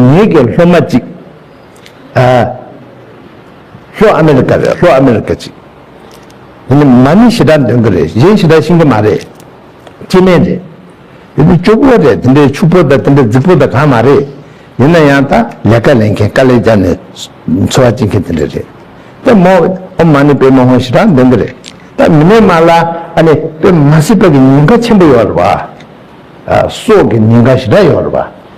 ངེད་ཀྱི་ལྷོ་མ་གཅིག། ལྷོ་ཨ་མེ་རི་ཀ་རེད་ལྷོ་ཨ་མེ་རི་ཀ་གཅིག། མ་ནི་ཞེ་དྲག་འདོན་གི་རེད་གཞན་ཞེ་དྲག་ཤིང་གི་མ་རེད། སྐྱེས་སྨན་རེད། ཡོད་དུ་སྐྱོ་པོ་རེད་དེ་འདྲའི་ཕྱུག་པོ་དང་དེ་འདྲའི་རྫིག་པོ་དང་གང་མ་རེད། ཡིན་ན་ཡང་དང་ལས་ཀ་ལེན་མཁན་དཀའ་ལས་རྒྱབ་ནས་འཚོ་བ་སྐྱེལ་མཁན་དེ་འདྲ་རེད། ད་མོ་ཨོ་མ་ནི་པེ་མ་ཧོང་ཞེ་དྲག་འདོན་གི་རེད། ད་མི་ནས་མ་ལ་ཨ་ནི་པེ་མ་སི་པ་གི་ཉེན་ཁ་ཆེན་པོ་ཡོད་རེད་བ། སྲོག་གི་ཉེན་ཁ་ཞེ་དྲག་ཡོད་རེད་བ།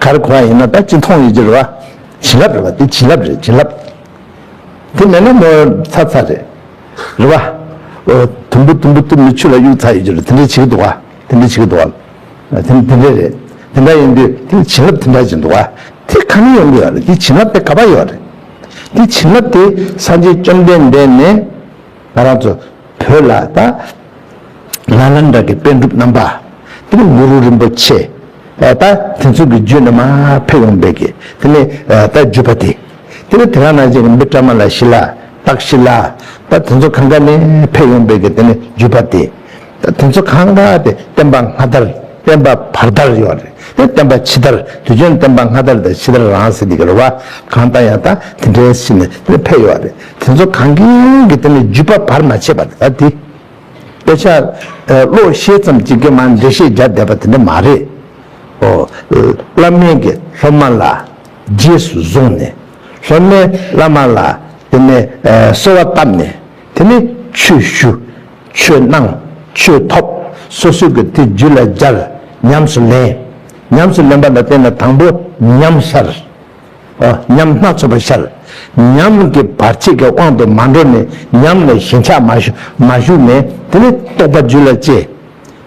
གར་གོང་ཡིན་ན་ད་ཅི་མཐོང་ཡོད་ཅེས་རེ་བ། བྱིན་རླབས་རེ་བ་འདི་བྱིན་རླབས་རེད་བྱིན་རླབས། དེ་མེད་ན་མོ་ཚ་ཚ་རེད། རེ་བ། ཨོ། དུམ་བུ་དུམ་བུ་དུ་མི་ཆུ་ལ་གཡུག་ཚར་ཡོད་ཅེས་རེད་དེ་འདྲས་བྱེད་ཀྱི་འདུག་ག་དེ་འདྲས་བྱེད་ཀྱི་འདུག་ག། དེ་དེ་འདྲས་རེད། དེ་འདྲ་ཡིན་དུས་དེ་བྱིན་རླབས་དེ་འདྲ་བྱེད་འདུག་ག་དེ་ཁ་ནས་ཡོང་གི་ཡོད་རེད་དེ་བྱིན་རླབས་དེ་ག་པར་ཡོད་རེད། དེ་བྱིན་རླབས་དེ་སངས་རྒྱས་བཅོམ་ལྡན་འདས་ནས་ང་རང་ཚོ་བོད་ལ་ད། ལ་ལ་འདྲ་དགེ་དཔལ་འགྲུབ་རྣམ་པ། དེ་ནས་གུ་རུ་རིན་པོ་ཆེ། ད་དེ་ཚོ་གི་རྒྱུད་རྣམས་ཕེབས་ཡོང་བས་ཀྱི་དེ་ནས་ད་བརྒྱུད་པ་སྟེ། དེ་ནས་དེ་ཁང་ན་ཅིག་རིན་པོ་བཀྲ་མ་ལ་ཤི་ལ་སྟག་ཤི་ལ། ད་དེ་ཚོ་གང་ག་ནས་ཕེབས་ཡོང་བས་ཀྱི་དེ་ནས་བརྒྱུད་པ་སྟེ། ད་དེ་ཚོ་གང་ག་དེ་བསྟན་པ་སྔ་དར་བསྟན་པ་བར་དར་ཡོད་རེད་དེ་བསྟན་པ་ཕྱི་དར་དུས་ཆེན་བསྟན་པ་སྔ་དར་དང་ཕྱི་དར་རང་ཟེར་དེ་གི་རེད་བ་གང་ལྟ་ཡང་ད་དེ་འདྲའི་ཕྱི་ནས་དེ་ནས་ཕེབས་ཡོད་རེད་དེ་ཚོ་གང་གི་གི་སྟེང་ནས་བརྒྱུད་པ་བར་མ་ཆད་པ་ད་དེ། དཔེ་ཆ། བློ་ཤེས་ཙམ་གཅིག་གིས་མ་འགྲེལ་བཤད་རྒྱག་བསྡད་པ་དེ་འདྲ་མ་རེད། ཨོ། བླ་སྨན་གྱིས་སློབ་མ་ལ་རྗེས་སུ་བཟུང་ནས། སློབ་མས་བླ་མ་ལ་དེ་ནས་གསོལ་བ་བཏབ་ནས་དེ་ནས་ཆོས་ཞུ། ཆོས་གནང། ཆོས་ཐོབ། སོ་སོས་གི་དེ་རྒྱུད་ལ་སྦྱར། ཉམས་སུ་ལེན། ཉམས་སུ་ལེན་པ་ལ་བརྟེན་ནས་དང་པོ་ཉམས་ཤར། ཉམས་སྣ་ཚོགས་པ་ཤར། ཉམས་ཀྱི་བར་ཆད་ཀྱི་དབང་དུ་མ་འགྲོ་ནས་ཉམས་ལས་ཞེན་ཆགས་མ་ཞུགས་ནས་དེ་ལས་རྟོགས་པ་རྒྱུད་ལ་སྐྱེ།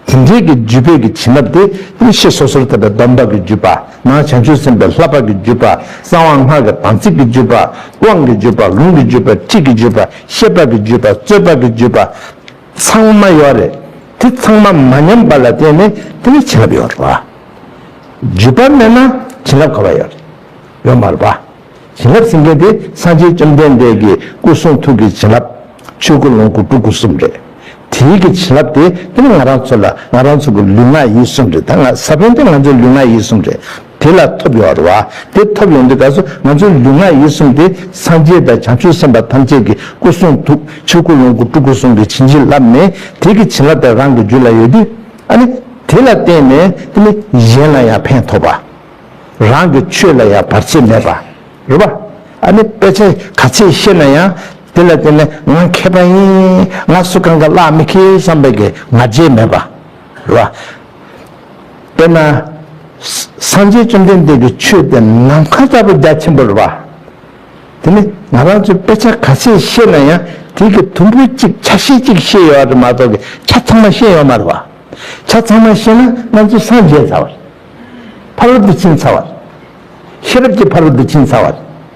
དེ་འབྲེལ་གྱི་རྒྱུད་དཔེ་གྱི་བྱིན་རླབས་དེ་ཡེ་ཤེས་སོ་སོར་དད་པའི་སྡོམ་པ་གྱི་རྒྱུད་པ་ན་བྱང་ཆུབ་སེམས་དཔའི་ལྷ་སྤགས་ཀྱི་རྒྱུད་པ་གསང་བ་སྔགས་ཀྱི་དམ་ཚིག་གི་རྒྱུད་པ་དབང་གི་རྒྱུད་པ་ལུང་གི་རྒྱུད་པ་ཁྲིད་ཀྱི་རྒྱུད་པ་ཤེས་པ་གྱི་རྒྱུད་པ་རྩོད་པ་གྱི་རྒྱུད་པ། ཚང་མ་ཡོད་རེད་དེ་ཚང་མ་མ་ཉམས་པ་ལ་བརྟེན་ནས་དེ་ནི་བྱིན་རླབས་ཡོད་རེད་བ། བརྒྱུད་པ་མེད་ན་བྱིན་རླབས་ག་བ་ཡོད་རེད་ཡོད་མ་རེད་བ། བྱིན་རླབས་ཟིན་མཁན་དེ་སངས་རྒྱས་བཅོམ་ལྡན་འདས་ཀྱི་སྐུ་གསུང་ཐུགས་ཀྱི་བྱིན་རླབས་ཆོས་སྐུ་ལོངས་སྐུ་སྤྲུལ་སྐུ་གསུམ་རེད། དེའི་གི་བྱིན་རླབས་དེ་དེ་ནི་ང་རང་ཚོ་ལ་ང་རང་ཚོ་གི་ལུས་ངག་ཡིད་གསུམ་རེད་ད་ང་ས་བོན་དེ་ང་ཚོའི་ལུས་ངག་ཡིད་གསུམ་རེད། དེ་ལ་ཐོབ་ཡོང་བར་བ་དེ་ཐོབ་ཡོང་དུས་ག་སོ་ང་ཚོའི་ལུས་ངག་ཡིད་གསུམ་དེ་སངས་རྒྱས་དང་བྱང་ཆུབ་སེམས་དཔའ་ཐམས་ཅད་ཀྱི་སྐུ་གསུང་ཐུགས་ཆོས་སྐུ་ལོངས་སྐུ་སྤྲུལ་སྐུ་གསུམ་གྱི་བྱིན་གྱིས་བརླབས་ནས་དེ་ཀྱི་བྱིན་རླབས་དེ་རང་གི་རྒྱུད་ལ་ཡོད་དུས་ཨ་ནི་དེ་ལ་བརྟེན་ནས་ཨ་ནི་གཞན་ལ་ཡང་ཕན་ཐོགས་པ། རང་གི་ཆོས་ལ་ཡང་བར་ཆད་མེད་པ་རེད་བ། ཨ་ནི་དཔེ་ཆ་ག་ཚད་ཤེས་ན་ཡང་དེ་ལ་བརྟེན་ནས་ང་མཁས་པ་ཡིན་ང་སུ་གང་གི་བླ་མ་མི་མཁས་བསམ་པའི་ང་རྒྱལ་མེད་པ། ལ། དཔེར་ན། སངས་རྒྱས་བཅོམ་ལྡན་འདས་ཀྱི་ཆོས་དེ་ནམ་མཁའ་ལྟ་བུ་རྒྱ་ཆེན་པོར་བ། དེ་ནི་ང་རང་ཚོས་དཔེ་ཆ་ག་ཚད་ཤེས་ན་ཡང་དེ་གི་དུམ་བུ་གཅིག་ཆ་ཤས་གཅིག་ཤེས་ཡོད་རེད་མ་གཏོགས་ཀྱི་ཆ་ཚང་མ་ཤེས་ཡོད་མ་རེད་བ། ཆ་ཚང་མ་ཤེས་ན་ང་ཚོས་སངས་རྒྱས་ཚར་བ་རེད། ཕ་རོལ་ཏུ་ཕྱིན་ཚར་བ་རེད། ཤེས་རབ་ཀྱི་ཕ་རོལ་ཏུ་ཕྱིན་ཚར་བ་རེད།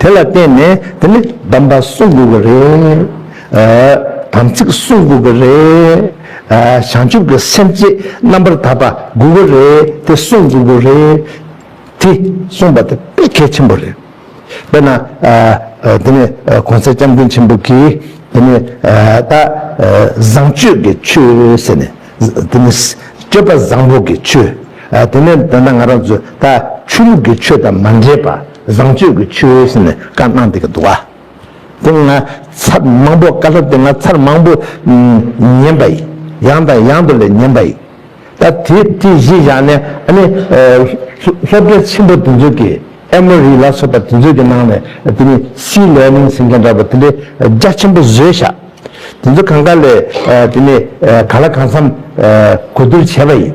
དེ་ལ་བརྟེན་ནས་དེ་ནི་དམ་པ་གསུང་དགོས་ཀྱི་རེད། དམ་ཚིག་བསྲུང་དགོས་ཀྱི་རེད། བྱང་ཆུབ་ཀྱི་སེམས་བསྐྱེད་རྣམ་པར་དག་པ་དགོས་ཀྱི་རེད་དེ་བསྲུང་དགོས་ཀྱི་རེད། དེ་གསུངས་པ་དེ་དཔེ་གལ་ཆེན་པོ་རེད། དཔེར་ན། དེ་ནས་གོང་གསལ་སྐྱབས་མགོན་ཆེན་པོ་གིས་དེ་ནི་ད། བཟང་སྤྱོད་ཀྱི་ཆོས་ཟེར་ནས། དེ་ནི་སྤྱོད་པ་བཟང་པོ་གྱི་ཆོས། དེ་ནས་ད་ང་རང་ཚོས་ད་ཆོས་ལུགས་ཀྱི་ཆོས་དང་མ་འདྲེས་པ། བཟང་སྤྱོད་ཀྱི་ཆུ་བོའི་ཟེར་ནས་བཀའ་གནང་འདི་ག་འདུག་ཨ། དེ་ང་ཚར་མང་པོ་བཀའ་སློབ་དེ་ང་ཚར་མང་པོ་ཉན་པ་ཡིན། ཡང་དང་ཡང་དུ་ལས་ཉན་པ་ཡིན། ད་དེ་དེ་གཞི་བཞག་ནས་ཨ་ནི་སློབ་གྲྭ་ཆེན་པོ་དེ་ཚོ་གི་ཨེ་མོ་རི་ལ་སོགས་པ་དེ་ཚོ་གི་ནང་ནས་དེ་ནི་སྲིད་ལས་ནིང་ཟེར་མཁན་འདྲ་པོ་དེ་འདྲའི་རྒྱ་ཆེན་པོ་བཟོས་བཞག་དེ་ཚོ་གང་ག་ལས་དེ་ནི་ག་ལ་གང་འཚམས་གོ་བསྡུར་བྱས་པ་ཡིན།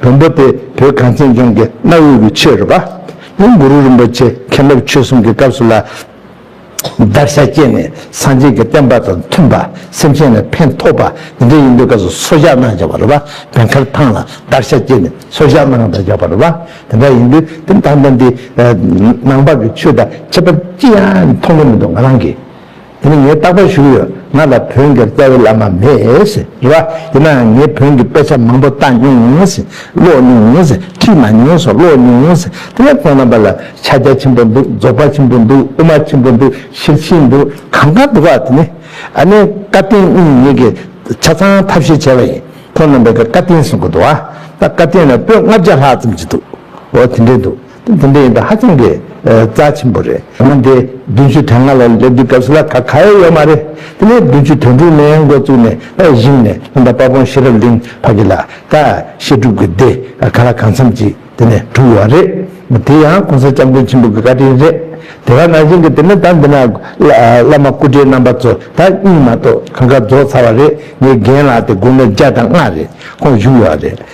བོན་པོ་སྟེ་བོད་གངས་ཅན་ལྗོངས་ཀྱི་གནའ་བོའི་གུ་ཆོས་རུ་པདྨ་གུ་རུ་རིན་པོ་ཆེ་མཁན་སློབ་ཆོས་གསུམ་གྱི་སྐབས་སུ་ལ་བཟླ་བྱ་སྤྱད་ནས་སངས་རྒྱས་ཀྱི་བསྟན་པ་དང་མཐུན་པ་སེམས་ཅན་ལ་ཕན་ཐོགས་པ་འདི་འདྲ་ཡིན་པའི་སྐབས་སུ་སོར་བཞག་གནང་བྱ་བ་རུ་པདྨའི་མཁར་ཐང་ལ་བཟླ་བྱ་སྤྱད་ནས་སོར་བཞག་གནང་བྱ་བ་རུ་པ་དེ་འདྲ་ཡིན་དུས་དེ་ལྟར་ན་འདི་ནང་པ་གུ་ཆོས་དང་ཁྱད་པར་ཅི་ཡང་མཐོང་གི་མི་འདུག་ང་རང་གིས། དེ་ནི་ངས་རྟག་པར་ཞུ་གི་ཡོད། ང་ལ་བོན་གྱི་རྩ་བའི་བླ་མ་མེད། རེད་བ། ཡིན་ནའང་ངས་བོན་གྱི་དཔེ་ཆ་མང་པོ་བལྟ་མྱོང། ཀློག་མྱོང། ཁྲིད་མ་མྱོང་སོགས་ཀློག་མྱོང། དེ་ལས་ཁོང་རྣམ་པ་ལ་ཕྱག་རྒྱ་ཆེན་པོ་འདུག་རྫོགས་པ་ཆེན་པོ་འདུག་དབུ་མ་ཆེན་པོ་འདུག་ཤེར་ཕྱིན་འདུག་གང་གང་འདུག་བ། དེ་ནི་ཨ་ནེ་བཀའ་བསྟན་སྙིང་ཉེ་གི་ཆ་ཚང་ཐབས་ཤེས་བྱས་པ་ཡིན། ཁོང་རྣམ་པས་ཀྱི་བཀའ་བསྟན་གསུང་གི་འདུག་བ། བཀའ་བསྟན་ལ་པོད་ལྔ་བརྒྱ་ལྷག་ཙམ་གྱི་འདུག་བོ། དེ་འདྲའི་འདུག། དེ་འདྲ་ཡིན་དུས་ཧ་ཅང་གི་རྩ་ཆེན་པོ་རེད། ད་དུང་དེ་བདུན་ཅུ་དོན་ལྔ་ལ་སླེབས་དུས་སྐབས་སུ་ལ་ཁ་ག་ཡོད་ཡོད་མ་རེད། དེ་ནས་བདུན་ཅུ་དོན་དྲུག་ནས་འགོ་བཙུགས་ནས་ད་གཞིམ་ནས་ཉིན་དང་དཔའ་བོང་ཤེས་རབ་གླིང་བར་གྱི་ལ་ད་བཤད་སྒྲུབ་ཀྱི་སྡེ་ག་ལ་གང་འཚམས་ཀྱིས་དེ་ནས་གྲུབ་ཡོད་རེད། དེ་ཡང་གོང་ས་སྐྱབས་མགོན་ཆེན་པོ་གྱི་བཀའ་དྲིན་རེད། དེ་བ་ན་གཞན་གྱི་དེ་ནས་ད་འདི་ན་བླ་མ་སྐུ་བགྲེས་རྣམ་པ་ཚོ་ད་གཉིས་མ་གཏོགས་གང་ག་རྫོགས་ཚར་བ་རེད་ངའི་རྒན་ལགས་དེ་དགུང་ལོ་བརྒྱ་དང་ལྔ་རེད་ཁོང་བཞུགས་ཡོད་རེད།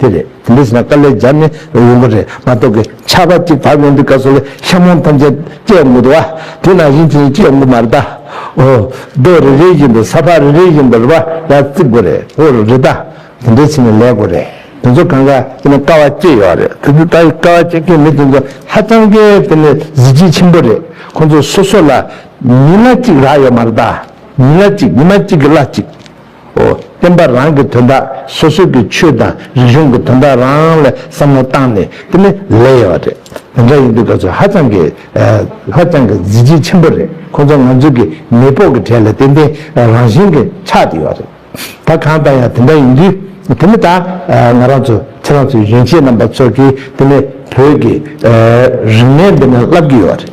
དེ་རེད་དེ་འདྲ་བྱས་ན་དཀའ་ལས་སྦྱར་ནས་ཡོང་གི་རེད་མ་གཏོགས་གི་ཆར་པ་གཅིག་བབས་ཡོང་དུས་སྐབས་སུ་ལས་ཤ་མོང་ཐམས་ཅད་སྐྱེ་ཡོང་གི་འདུག་བ་དེས་ན་གཞི་འཆིང་སྐྱེ་ཡོང་གི་མ་རེད་ད་འོ་རྡོ་རེ་རེ་བཞིན་པའི་ས་ཕག་རེ་རེ་བཞིན་པའི་རུ་བ་ལ་བརྩིགས་དགོས་རེད་འོ་རེད་ད་དེ་འདྲ་བྱས་ནས་ལས་དགོས་རེད་དེ་ཚོ་གང་གཱ་ཡིན་ན་དཀའ་བ་སྐྱེ་ཡོང་རེད་དེ་ཚོ་ད་དཀའ་བ་སྐྱེ་མཁན་མི་དེ་ཚོ་ཧ་ཅང་གི་དེ་ནི་གཟི་བརྗིད་ཆེན་པོ་རེད་ཁོང་ཚོ་སོ་སོ་ལ་ཉིན་ལ་གཅིག་རག་ཡོད་མ་རེད་ད་ཉིན་ལ་གཅིག་ཉི་མ་གཅིག་གི་ལ་གཅིག། ཨོ་བསྟན་པ་རང་གི་དོན་དག་སོ་སོ་གི་ཆོས་དང་རིག་གཞུང་གི་དོན་དག་རང་ལ་བསམ་བློ་བཏང་ནས་དེ་ནི་ལས་ཡོད་རེད་དེ་འདྲ་ཡིན་དུས་ཁ་ཚོད་ཧ་ཅང་གི་ཧ་ཅང་གི་གཟི་བརྗིད་ཆེན་པོ་རེད་ཁོ་ཚོ་ང་ཚོ་གི་མེས་དཔོག་གི་གྲས་ལ་ཏན་ཏན་རང་བཞིན་གི་ཆགས་ཏེ་ཡོད་རེད་ད་གང་ལྟར་ཡང་དེ་འདྲ་ཡིན་དུས་དེ་ནི་ད་ང་རང་ཚོ་ཁྱེད་རང་ཚོ་གཞོན་སྐྱེས་རྣམ་པ་ཚོ་གིས་དེ་ནི་བོད་ཀྱི་རིག་གནས་འདི་ནི་བསླབ་ཀྱི་ཡོད་རེད།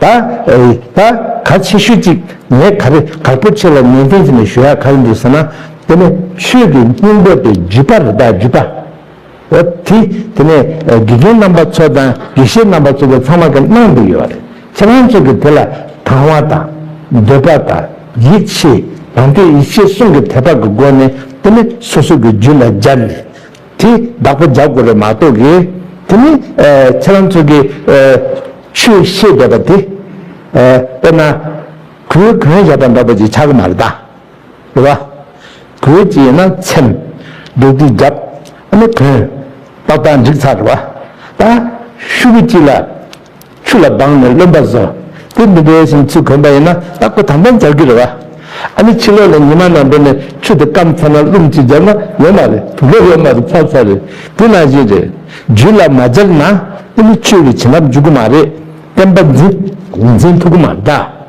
ད་ད་ག་ཆེ་ཤོས་ཅིག་ངས་ག་རེ་ག་པོ་ཆེ་ལ་ནན་ཏན་ཅིག་ནས་ཞུ་ཡག་ག་ཡིན་འདུག་ཟེར་ན་དེ་ནི་ཆོས་ཀྱི་སྙིང་པོ་སྟེ་རྒྱུད་པ་རེད་ད་རྒྱུད་པ་འོ་དེ་དེ་ནས་དགེ་རྒན་རྣམ་པ་ཚོ་དང་དགེ་བཤེས་རྣམ་པ་ཚོ་དེ་ཚང་མ་གི་གནང་འདུག་ཡོད་རེད་ཁྱེད་རང་ཚོ་གི་དེ་ལ་དང་བ་དང་འདོད་པ་དང་ཡིད་ཆེས་དང་དོད་ཡིད་ཆེས་གསུམ་གི་དད་པ་གི་སྒོ་ནས་དེ་ནི་སོ་སོ་གི་རྒྱུད་ལ་སྦྱར་ནས། དེ་བདག་པོ་བརྒྱག་དགོས་རེད་མ་གཏོགས་ཀྱི། དེ་ནི་ཁྱེད་རང་ཚོ་གི་ཆོས་ཤེས་བསྡད་པ་དེ། དཔེར་ན་གོས་གོན་བཞག་པ་འདྲ་པོ་ཅིག་ཆགས་ཀྱི་མ་རེད་ད། རེད་བ། གོས་ཅིག་ཡིན་ན་འཚེམ། འདུག་སྟེ་བརྒྱབ། ཨ་ནི་གོན། ཏག་ཏག་འགྲིག་ཚར་རེད་བ། ད། ཤུ་གུ་གཅིག་ལ། ཆུ་ལ་སྦངས་ནས་རློན་པ་བཟོ། དེ་འདི་འདྲའི་ཞིང་ཆུ་གོན་པ་ཡིན་ན་རྟག་པར་དམ་པས་འབྱར་གྱི་རེད་བ། ཨ་ནི་ཕྱི་ལོགས་ལ་ཉི་མ་ནང་འགྲོ་ནས་ཆུ་དེ་སྐམ་ཚར་ན་རླུང་ཅིག་འབྱར་ན་ཡོད་མ་རེད་དུ་ལོ་ཡོད་མ་རེད་ཚར་ཚར་རེད་དེ་ནང་བཞིན་རེད། རྒྱུད་ལ་མ་འབྱར་ན་ཨེ་ལི་ཆོས་ཀྱི་བྱིན་རླབས་འཇུག་གི་མ་རེད་བསྟན་པ་འཛིན། ལུས་འཛིན་ཐུགས་མ་འདའ།